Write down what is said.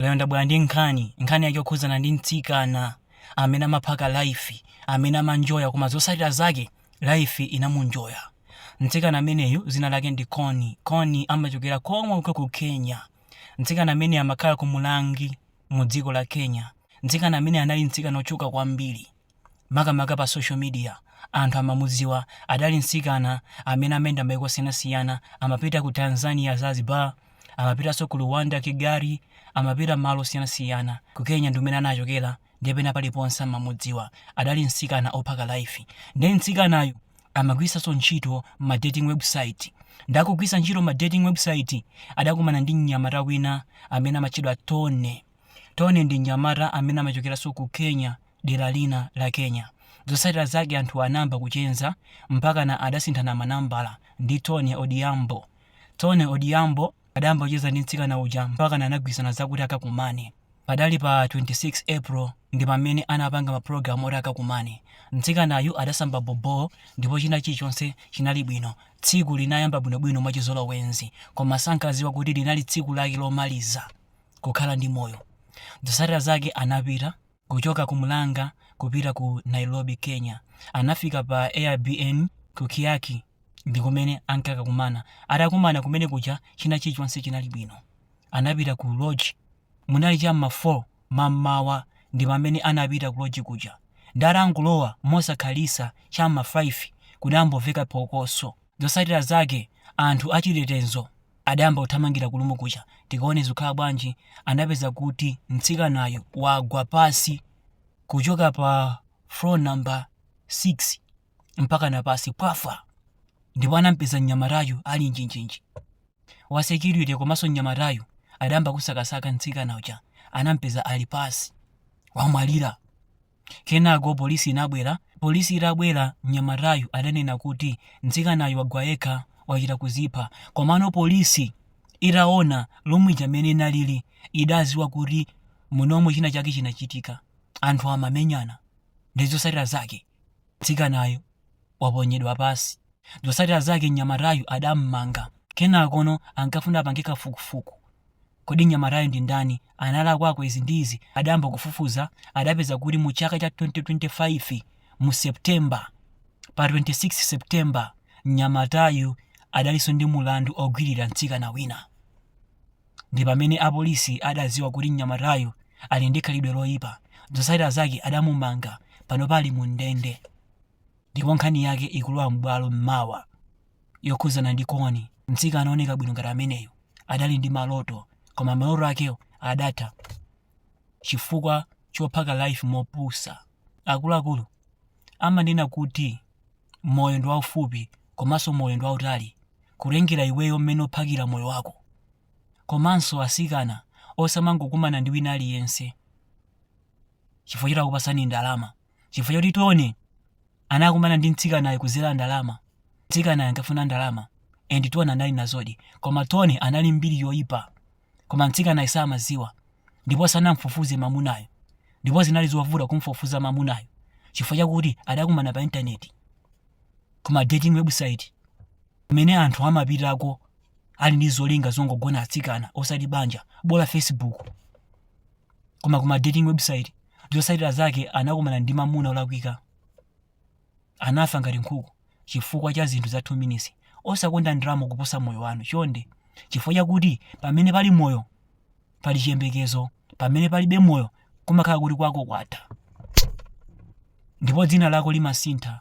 Lero ndabwera ndi nkhani, nkhani yake yokhudzana ndi mtsikana amene amaphaka life, amene amanjoya koma zotsatira zake life inamunjoya. Mtsikana ameneyu dzina lake ndi Connie, Connie amachokera komweko ku Kenya. Mtsikana ameneyu amakhala ku Murang'a mu dziko la Kenya. Mtsikana ameneyu anali mtsikana wotchuka kwambiri. makamaka pa social media anthu amamudziwa adali mtsikana amene amayenda maiko osiyanasiyana amapita ku tanzania zanzibar amapitanso ku rwanda kigali amapita malo osiyanasiyana ku kenya ndi kumene anachokera ndiye pena paliponse amamudziwa adali mtsikana ophaka life ndiye mtsikanayu amagwiritsanso ntchito ma dating website ndakugwiritsa ntchito ma dating website adakumana ndi mnyamata wina amene amatchedwa tony tony ndi mnyamata amene amachokeranso ku kenya dera lina la Kenya. Zotsatira zake anthuwa anayamba kucheza mpakana adasinthana manambala ndi Tony Odhiambo. Tony Odhiambo adayamba kucheza ndi mtsikana uja mpakana anagwirizana zakuti akakumane. Padali pa 26 April ndi pamene anapanga mapulogalamu oti akakumane. Mtsikanayu adasamba boboo ndipo china chilichonse chinali bwino. Tsiku linayamba bwinobwino mwachizolowezi koma sankadziwa kuti linali tsiku lake lomaliza kukhala ndi moyo. Zotsatira zake anapita. kuchoka ku Murang'a kupita ku Nairobi, Kenya. Anafika pa Airbnb ku Kiyaki ndi kumene ankakakumana. Atakumana kumene kuja china chilichonse chinali bwino. Anapita ku lodge munali cha m'ma 4 mammawa ndi pamene anapita ku lodge kuja. Ndi atangolowa mosakhalitsa cha m'ma 5 kudamboveka phokoso. Zotsatira zake anthu achitetezo adayamba kuthamangira ku room kuja tikaone zikhala bwanji anapeza kuti mtsikanayo wagwa pansi kuchoka pa floor number 6 mpakana pansi pwafa ndipo anampeza mnyamatayo ali njinjinji wa security komanso mnyamatayo adayamba kusakasaka mtsikana uja anampeza ali pansi wamwalira Kenako polisi inabwera. Polisi itabwera, mnyamatayu adanena kuti mtsikanayu wagwa yekha, wachita kuzipha. Komano polisi itaona room ija mmene inaliri idadziwa kuti munomo china chake chinachitika. Anthu amamenyana ndi zotsatira zake mtsikanayu waponyedwa pansi. Zotsatira zake mnyamatayu adammanga. Kenakono ankafuna apange kafukufuku Kodi mnyamatayu ndi ndani? Analakwako izi ndi izi? Adayamba kufufuza, adapeza kuti mu chaka cha 2025 mu September, pa 26 September, mnyamatayu adalinso ndi mulandu ogwiririra mtsikana wina. Ndi pamene apolisi adadziwa kuti mnyamatayu ali ndi khalidwe loipa. Zotsatira zake adamumanga, panopa ali mu ndende ndipo nkhani yake ikulowa m'bwalo mawa. yokhudzana ndi Connie, mtsikana ooneka bwino ngati ameneyo adali ndi maloto koma maloto akewo adatha chifukwa chophaka life mopusa. Akuluakulu amanena kuti moyo ndi waufupi komanso moyo ndi wautali kutengera iweyo mmene uphakira moyo wako. Komanso atsikana osamangokumana ndi wina aliyense chifukwa choti akupatsani ndalama. chifukwa choti Tony anakumana ndi mtsikanayo kudzera ndalama. Mtsikanayo ankafuna ndalama and Tony anali nazodi, koma Tony anali ndi mbiri yoyipa, koma mtsikanayo samadziwa ndipo sanamfufuze mamunayo, ndipo zinali zovuta kumfufuza mamunayo chifukwa chakuti adakumana pa intaneti kuma dating website kumene anthu amapitako ali ndi zolinga zongogona atsikana osati banja, bola Facebook. koma ku ma dating website zotsatira zake anakumana ndi mamuna olakwika anafa ngati nkhuku chifukwa cha zinthu za 2 minutes osakonda ndalama kuposa moyo wanu chonde chifukwa chakuti pamene pali moyo pali chiyembekezo pamene palibe moyo kumakhala kuti kwako kwatha ndipo dzina lako limasintha